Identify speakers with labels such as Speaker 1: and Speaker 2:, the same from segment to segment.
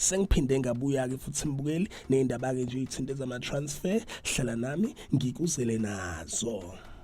Speaker 1: sengiphinde ngabuya-ke futhi mbukeli ney'ndaba-ke nje iy'thinte zama-transfer hlala nami ngikuzele nazo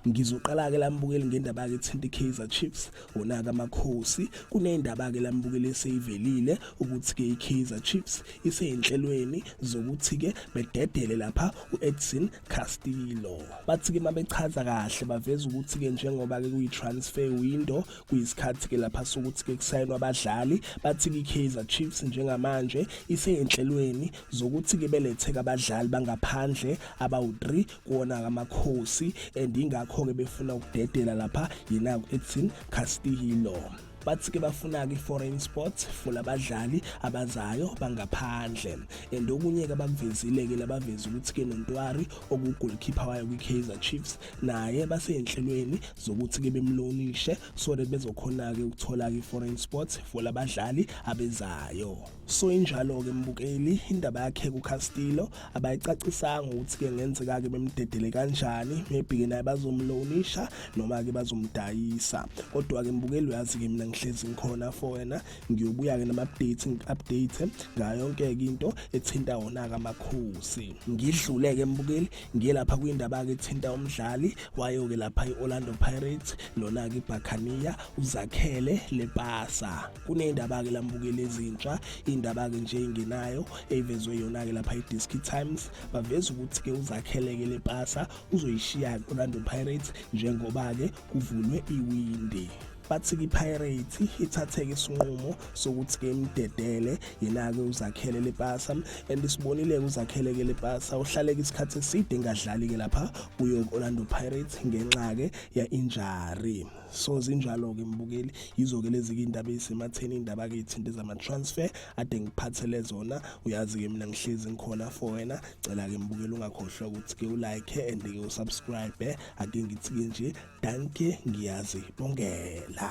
Speaker 1: ngizoqala-ke lambukeli ngendaba-ke ethinta i-kaizer chiefs khona ke amakhosi kunendaba ke lambukele seyivelile ukuthi ke iKaizer Chiefs iseyinhlelweni zokuthi ke bededele lapha uEdson Castillo bathi ke mabechaza kahle baveza ukuthi ke njengoba ke kuyitransfer window kuyisikhathi ke lapha sokuthi ke kusayinwa abadlali bathi ke iKaizer Chiefs njengamanje iseyinhlelweni zokuthi ke beletheka abadlali bangaphandle abawu-3 kuwona amakhosi and ingakho-ke befuna ukudedela lapha yena edson castillo bathi ke bafuna-ke i-foreign sports for labadlali abazayo bangaphandle and okunye-ke abakuvezile-ke labaveza ukuthi-ke nontwari okugolkhipha wayo kwi-kaizer chiefs naye basey'nhlelweni zokuthi-ke bemlonishe so that bezokhona-ke ukuthola-ke i-foreign sports for labadlali abezayo so injalo-ke mbukeli indaba yakhe kucastillo abayicacisanga ukuthi-ke ngenzeka-ke bemdedele kanjani maybe-ke naye bazomlonisha noma-ke bazomdayisa kodwa-ke mbukeli uyazi-ke mina ngihlezi ngikhona for wena ngiyobuya-ke nama-update ngi-update ngayo yonke-ke into ethinta wona-ke amakhosi ngidlule-ke mbukeli ngiye lapha kwindaba-ke ethinta umdlali wayo-ke lapha i-orlando pirates lona-ke ibhakaniya uzakhele lepasa kuney'ndaba-ke la mbukeli ezintsha iy'ndaba-ke nje ey'ngenayo eyivezwe yona-ke lapha i-diski times baveza ukuthi-ke uzakheleke le pasa uzoyishiya-ke orlando pirates njengoba-ke kuvulwe iwindi bathi-ke ipirates ithatheke isinqumo sokuthi-ke imdedele yena-ke uzakhele lepasa and sibonile-ke uzakheleke lepasa uhlaleke isikhathi eside engadlali-ke lapha kuyo-orlando pirates ngenxa-ke ya-injari so zinjalo-ke mbukeli yizo-ke lezi-ke iy'ndaba ey'sematheni iy'ndaba-ke iy'thinta ezama-transfer ade ngiphathele zona uyazi-ke mina ngihlezi ngikhona for wena cela-ke mbukeli ungakhohlwa ukuthi-ke ulike and-ke usubscribe ake ngithi-ke nje danke ngiyazibongela